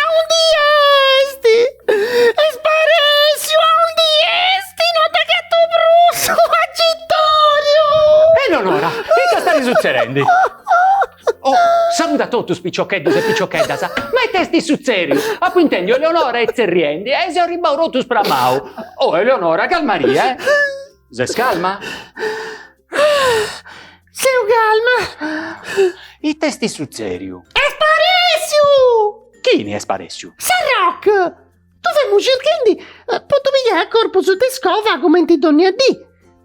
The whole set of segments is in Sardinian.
Aundi esti? Est sparèssiu aundi esti, no dd'agatu prusu, agitoriu. Eleonora, ita stari sutzerendi? Oh, saludi a totus piciocheddus e piciocheddas, ma ita esti sutzeriu? Apu intendiu Eleonora e tzerriendi e seu arribau totu spramau. Oh Eleonora, calmaria, eh. Ses calma? Seu calma. Ite est sutzèriu? Est sparèssiu! Chini est sparèssiu? Sarroc! Ddu femu circhendi po ddu pigai a corpus de iscova cumenti dònnia dì,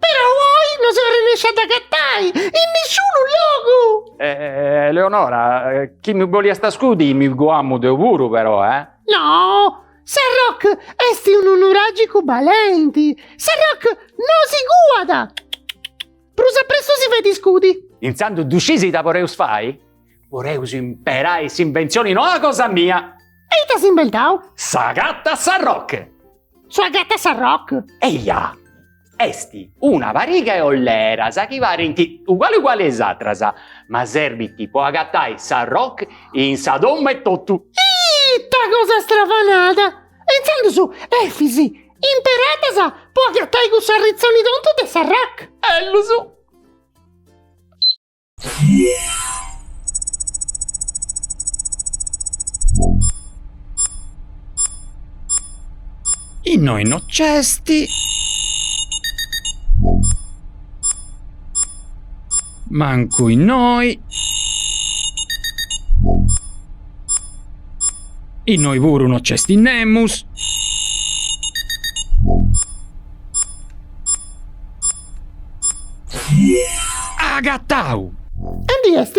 perou oi no seu arrennèscia a dd'agatai in nisciunu logu! Eleonora, chi mi boliast scudi mi cuamu deu puru perou, eh? No, Sarroc est unu nuràgicu balenti. Sarroc no si cuat! Prus a pressu si fait iscudi. Intzandus ddu scis ita poreus fai? Poreus imperai s'inventzioni noa cosa mia! E ita as imbentau? S'agatasarroc! Su agatasarroc? Eia! Est una pariga 'e olleras chi parent uguale uguale 'e is atras, ma serbint po agatai Sarroc in sa domu e totu. Ita cosa stravanada! E intzandus Efis, imperaddas po agatai cuss'arritzoni tontu de Sarroc! Ellus. Innoi no c'esti mancu innoi Innoi puru no c'esti nemus. Agatau! Aundi est?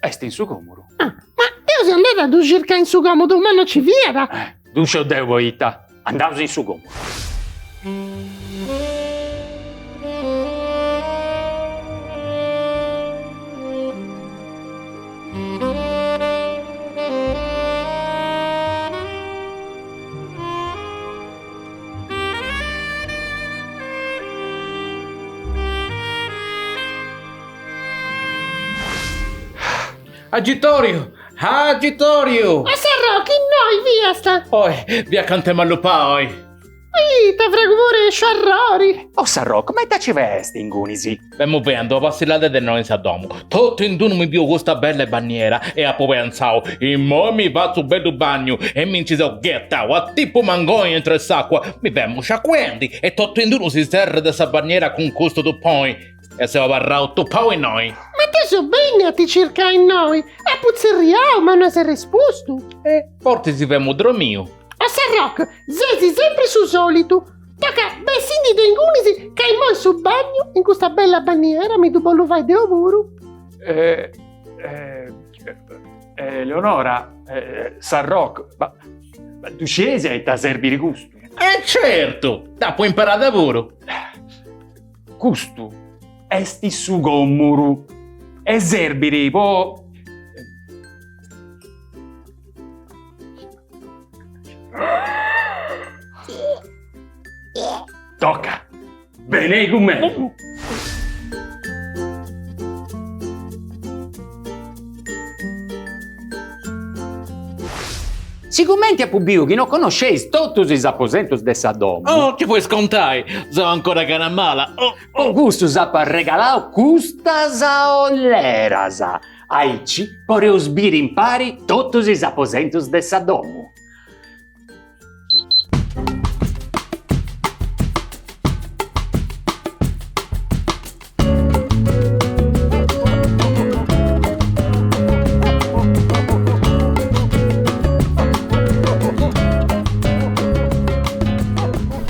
Est in su còmodu. Ah, ma deu seu andada a ddu circai in su còmodu, ma no nci fiat. Ddu sciu deu poita, andaus in su còmodu. Agitoriu! Agitoriu! O Sarroc, innoi fiast? Oi, fia acanta 'e m'allupai, oi! Ita fragu purèsciu, arrori! O Sarroc, ma ita ci faiast ingunisi. Femu fendi una passillada e de innoi in sa domu. Totu in d'unu mi biu custa bella e banniera e apu pentzau, immoi mi fatzu unu bellu bagnu e mi nci seu ghetau a tipu mangoni intro 'e s'acua, mi femu sciacuendi e totu in d'unu si serrat de sa banniera cun custu tupoi e seu abarrau tupau innoi. Ma deu seu bennia a ti circai innoi, apu tzerriau ma no as arrespustu. E fortzis femu dromiu. O Sarrocu, sesi sempri su solitu. Toca bessi·ndi de ingunis ca immoi su bagnu in custa bella banniera mi ddu bollu fai deu puru. Eleonora, Sarrocu, ma ddu scieis a ita serbit custu? E certu, dd'apu imparada puru. Custu est su gòmmuru e serbit po. Toca! Benei cun mei! Sigumenti apu biu chi no connosceis totus is aposentus de sa domu. Oh, gei podis contai, seu ancora a gana mala. Po custu s'apu arregalau custas olleras. Aici poreus biri impari totus is aposentus de sa domu.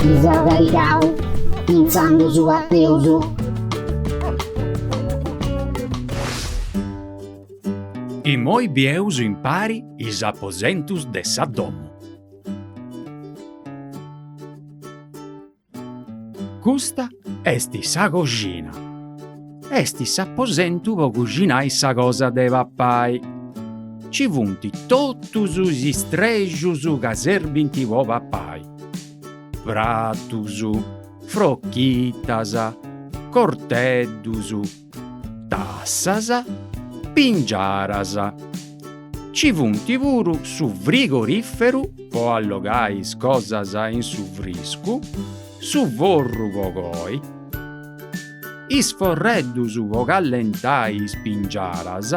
Mi seu carrigau pintzandu a bosàterus. Immoi bieus impari is aposentus de sa domu. Custa est sa coxina. Est s'aposentu po coxinai sa cosa de papai. Ci funt totus is istrexus chi serbint po papai, pratus, frochitas, corteddus, tassas, pingiaras. Ci funt puru su frigorìferu po allogai is cosas in su friscu, su forru po coi, is forreddus po callentai is pingiaras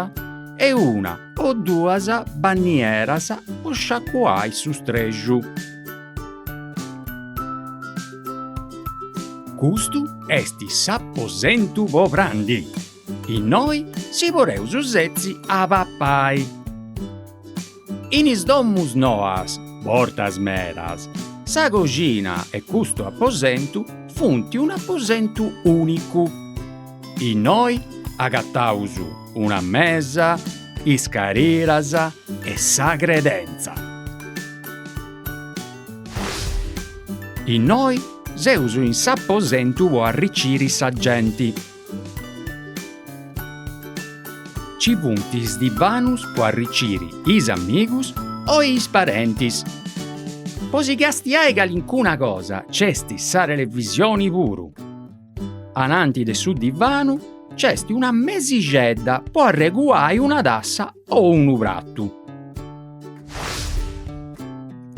e una o duas bannieras po sciacuai su strexu. Custu est s'aposentu po prandi. Innoi si poreus setzi a papai. In is domus noas, bortas medas, sa coxina e custu aposentu funt un'aposentu ùnicu. Innoi agataus una mesa, is cariras e sa credentza. Innoi seus in s'aposentu po arriciri sa genti. Ci funt is divanus po arriciri is amigus o is parentis. Po si castiai calincuna cosa c'est sa televisioni puru. Ananti de su divanu c'est una mesixedda po arreguai una tassa o unu pratu.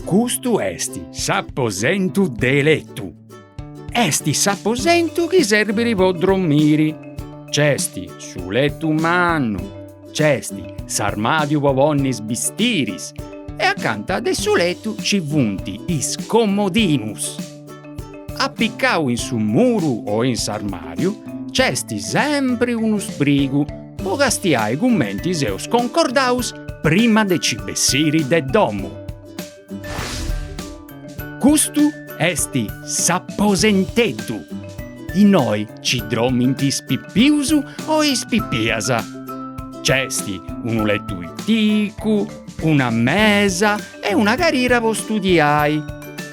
Custu est s'aposentu de letu. Est s'aposentu chi serbit po drommiri. C'est su letu mannu, c'est s'armadiu po ponni is bistiris e acanta de su letu ci funt is comodinus. Appiccau in su muru o in s'armariu c'est sempri unu sprigu po castiai cumenti seus concordaus prima de ci bessiri de domu. Custu est s'aposenteddu. Innoi ci dromint is pipius o is pipias. C'est unu letu piticu, una mesa e una carira po studiai.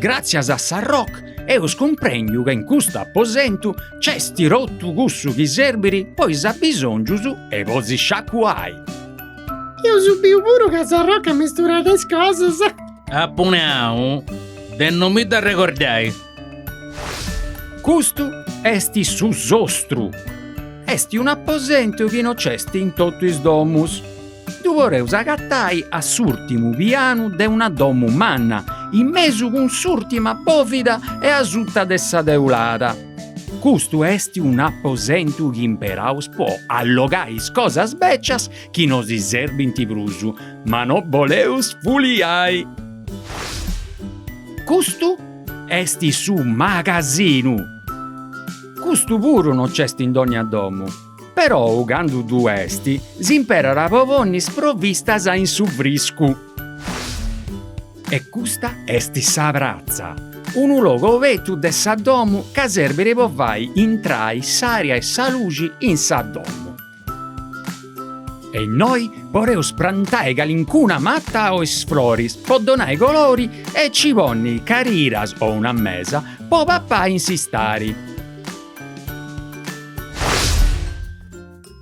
Gràtzias a sa Roc eus cumprendiu ca in custu aposentu c'est totu cussu chi serbit po is abisòngius e po si sciacuai. Eus biu puru ca sa Roc at amesturau is cosas. Apu nau de no mi dd'arregordai. Custu est su sostru. Est un'aposentu chi no c'est in totu is domus. Ddu poreus agatai a s'ùrtimu pianu de una domu manna, in mesu cun s'ùrtima bòvida e asuta de sa teulada. Custu est un'aposentu chi imperaus po allogai is cosas bècias chi no si serbint prus, ma no boleus fuliai. Custu est su magasinu. Custu puru no c'est in dònnia domu. Perou candu ddu est, s'imperat po ponnis provistas in su friscu. E custa est sa pratza, unu logu obetu de sa domu chi serbit po fai intrai s'aria e sa luxi in sa domu. E innoi poreus prantai calincuna mata o is floris po donai colori e ci ponni cariras o una mesa po papai in s'istari.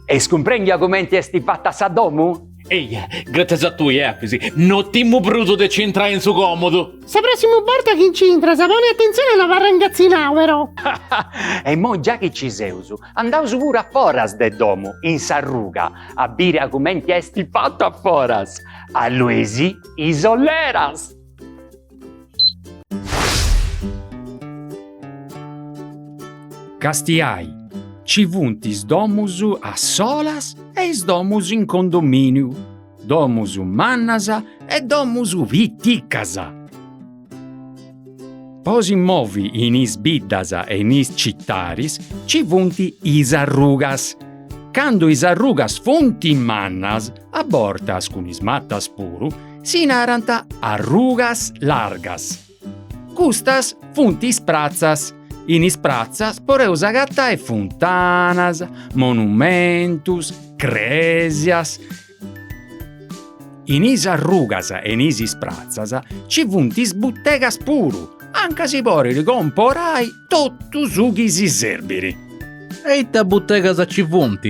Est cumprèndiu cumenti est fata sa domu? Eia, gràtzias a tui, Lapis, no timu prus de nci intrai in su còmodu. Sa pròssimu borta chi nci intras, pona atentzioni a no abarrai ingatzinau, però. E immoi già chi nci seus, andaus puru a foras de domu, in s'arruga, a biri a cumenti est fatu a foras. Allueus is ulleras! Castiai, Ci funt is domus a solas e is domus in condomìniu, domus mannas e domus piticas. Po si movi in is biddas e in is citaris ci funt is arrugas. Candu is arrugas funt mannas A bortas cun is matas puru si narant arrugas largas. Custas funt is pratzas, in is pratzas poreus agatai funtanas, monumentus, cresias. In is arrugas e in is is pratzas ci funt is butegas puru, anca si porit comporai Totu su chi si serbiri. E ita butegas ci funt?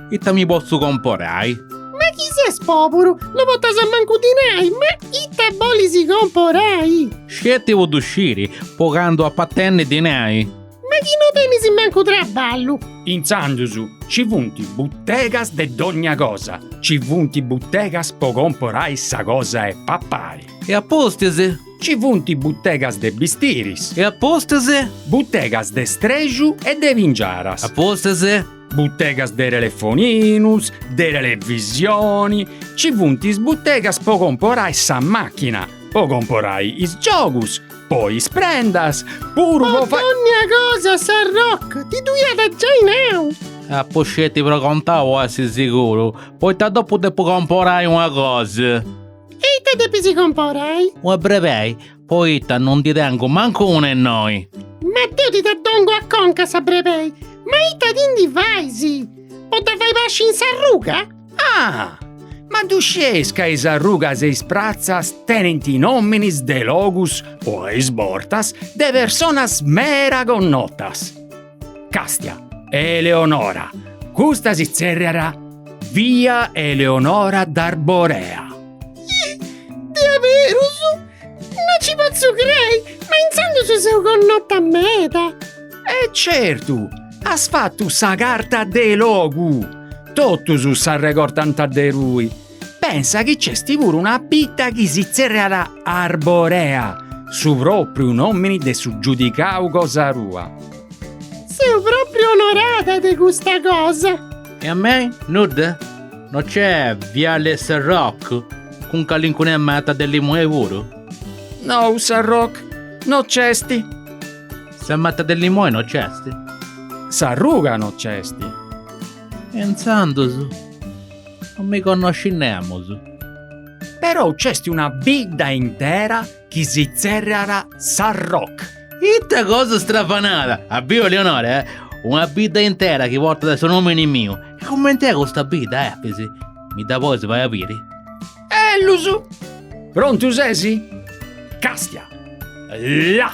Ita mi potzu comporai? Ma chi ses poburu, no potas mancu dinai, ma ita bolis comporai? Sceti po ddu sciri, po candu apu a tenni dinai. Ma chi no tenis mancu traballu. Intzandus ci funt butegas de dogna cosa, ci funt butegas po comporai sa cosa 'e papai. E a pustis? Ci funt butegas de bistiris. E apustis? Butegas de streju e de pingiaras. Apustis? Butegas de telefoninus, de televisioni. Ci funt is butegas po comporai sa machina, po comporai is giogus, po is prendas puru. Po dònnia cosa sa Roc ti ddu iat giai nau. Apu sceti pregontau a essi siguru, poita dopu depu comporai una cosa. E ita depis comporai? Una brebei, poita non ndi tengu mancu una innoi. Ma deu ti dda dongu a conca sa brebei, ma ita ti ndi fais? Po dda fai pasci in s'arruga? Ah! Ma ddu scieis ca is arrugas e is pratzas tenint nominis de logus o a is bortas de personas mera connotas? Càstia, Eleonora, custa si tzèrriat via Eleonora d'Arborea. Ih! Diaberus! No ci potzu crei, ma intzandus seu connota meda! E certu, as fatu sa carta de logu! Totus s'arregortant de tui. Pensa chi nc'est puru una bidda chi si tzèrriat Arborea, su pròpriu nòmini de su giudicau cosa tua. Seu pròpriu onorada de custa cosa. E a mei, nudda? No nc'est Viale Sa Roc, cun calincuna mata de limoni puru? Nou, Sa Roc no nc'est. Sa mata de limoni no nc'est? S'arruga no nc'est. E intzandus? Non mi connoscit nemus. Però nc'est una bidda intera chi si tzèrriat Sarroch. Ita cosa stravanada! As biu Eleonora, eh! Una bidda intera chi portat su nòmini miu. E coment'est custa bidda, Efis? Mi dda podis fai a biri? Ellus! Prontu ses? Càstia! Là!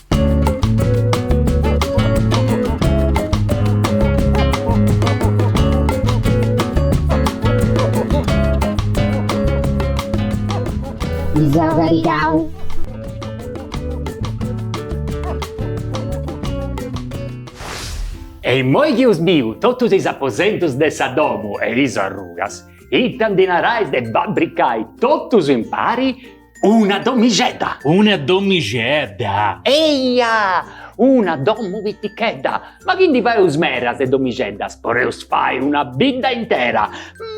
E immoi chi eus biu totus is aposentus de sa domu e is arrugas, ita ndi narais de fabricai totus impari, Una domixedda. Una domixedda. Eia! Una domu pitichedda. Ma chi ndi faeus meras 'e domixeddas, podeus fai una bidda intera,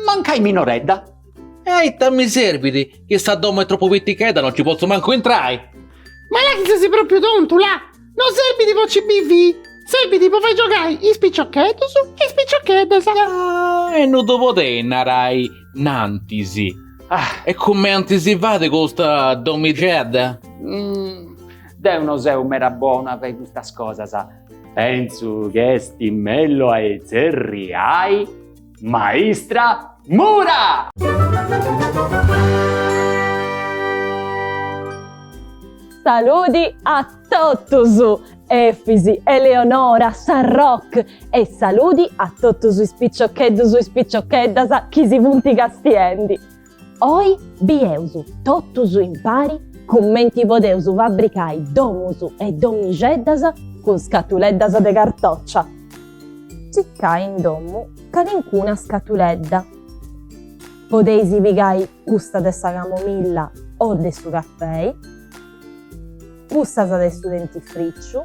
mancai minoredda. E a ita mi serbit chi sa domu est tropu pitichedda, non ci potzu mancu intrai? Ma là chi ses propriu tontu, là non serbit po ci bivi, serbit po fai giogai is piciocheddus e is piciocheddas. Ah, e non ddu podiast narai Innantis. Ah. E cumenti si fait custa domixedda? Deu no seu meda bona a fai custas cosas. Pensu chi est mellus a tzerriai maistra Mura! Totus! Efis, Eleonora, Sa Roc e saludi a totus is piciocheddus e is piciocheddas chi si funt castiendi! Oi bieus totus impari cumenti podeus fabricai domus e domixeddas cun scatuleddas de cartòcia. Circai in domu calincuna scatuledda. Podeis pigai custa de sa camomilla o de su cafei, cussa de su dentifriciu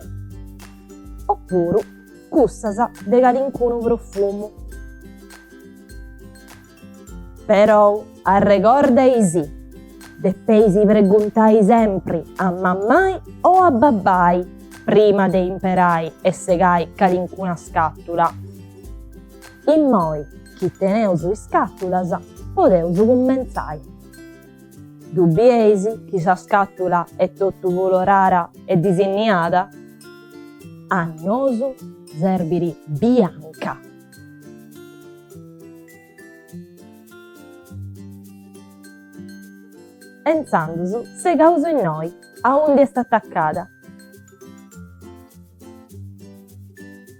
oppuru cussas de calincunu profumu. Perou arregordais depeis preguntai sempri a mammai o a babbai prima de imperai e segai calincuna scatula. Immoi chi teneus is scàtulas podeus cummentzai. Ddu bieis chi sa scàtula est totu colorada e disinniada? A nosu serbit bianca. E intzandus segaus innoi aundi est atacada.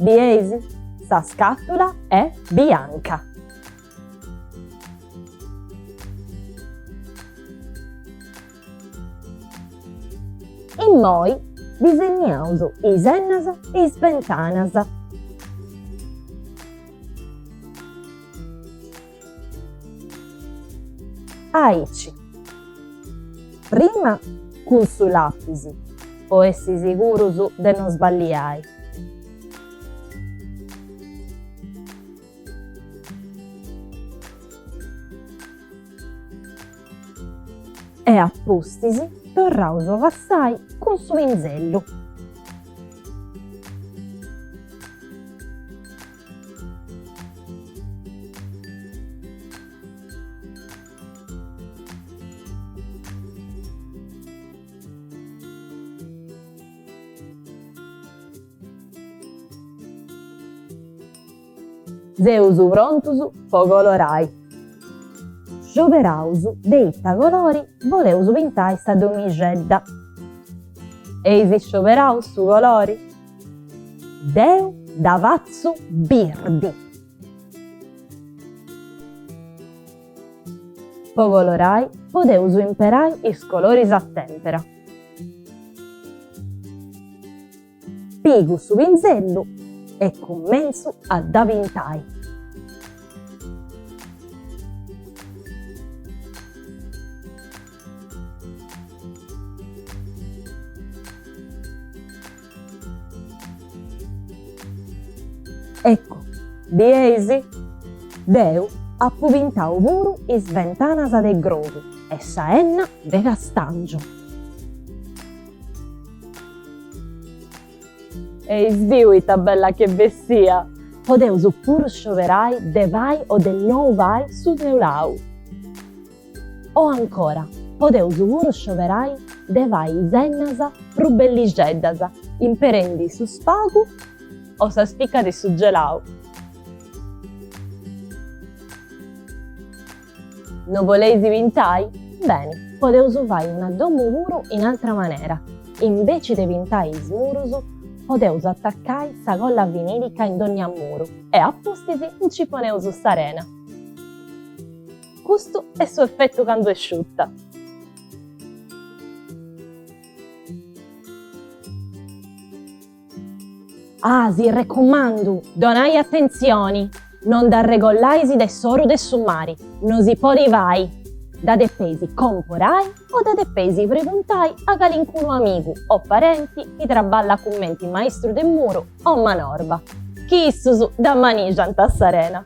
Bieis? Sa scàtula est bianca. Immoi disenniaus is ennas e is bentanas. Aici. Prima cun su lapis po essi sigurus de no sballiai. E a pustis torraus a passai cun su pinzellu. Seus prontus po colorai. Scioberaus de ita colori boleus pintai sa domixedda. Eis scioberau su colori? Deu dda fatzu birdi. Po colorai podeus imperai is coloris a tèmpera. Pigu su pinzellu e cumentzu a dda pintai. Ecco, bieis? Deu apu pintau puru is bentanas de grogu e sa 'enna de castàngiu. Eis biu ita bella ch'e bessia! Podeus puru scioberai de fai o de nou fai su teulau. O ancora, podeus puru scioberai de fai is ennas prus bellixeddas imperendi su spagu o sa spica de su gelau. No boleis pintai? Beni, podeus fai una domu puru in atra manera, imbeci de pintai is murus podeus atacai sa colla vinilica in dogna muru e a pustis nci poneus s'arena. Custu est su effettu candu est sciutta. Ah, si recumandu! Donai atentzioni, non dd'arregollaisi de s'oru de su mari, no si podit fai! Dda depeisi comporai o dda depeisi preguntai a calincunu amigu o parenti chi traballat cumenti maistru de muru o manorba, chi issus dda manìgiant a s'arena.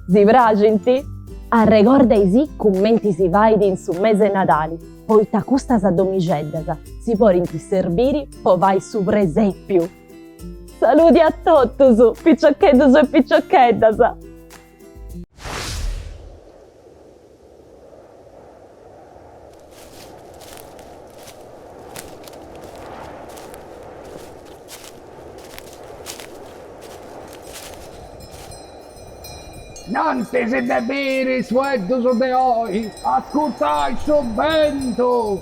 Si praxint? Arregordaisì cumenti si fait in su mese 'e Nadali, poita custas domixeddas si podint serbiri po fai su presepiu! Saludi a totus, piciocheddus e piciocheddas! Nanti de biri is fueddus de oi, ascurtais su bentu.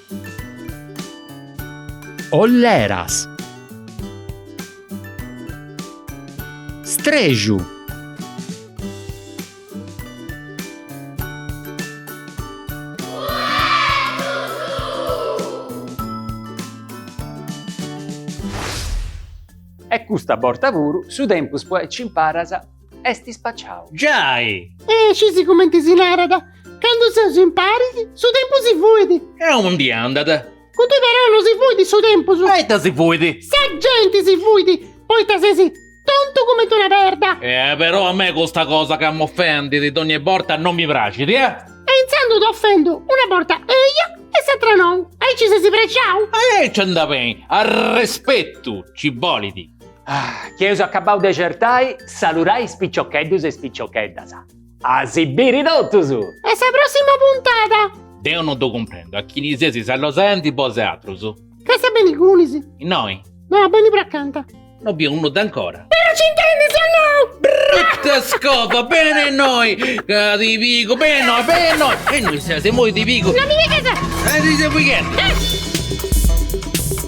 Olleras. Strexu. E custa borta puru su tempus po aici imparas. est ispaciau. Giai! E scis cumenti si narat, Candu seus imparis, su tempus si fuit. A undi andat? Cuddu però no si fuit su tempus. E ita si fuit? Sa genti si fuit, poita ses tontu cumenti una perda. E però a mei custa cosa ca m'ofendit dogni borta no mi praxit, eh! E intzandus t'ofendu una borta eja e s'atra nou, aici ses prexau? Aici andat beni, arrespetu ci bolit. Ah, chi eus acabbau de certai, salurai is piciocheddus e is piciocheddas. A si biri totus! A sa prossima puntada! Deu no ddu cumprendu, a chini seis saludendi bosatrus? Ca sa beni cunis? Innoi? No, a beni prus acanta. No biu nudda ancora. Però ci intendis o no? Brutta scrofa, beni innoi ca ti pigu, beni innoi, beni innoi, beni innoi, seas imoi ti pigu. No mi pigas! Ed is a pighendi!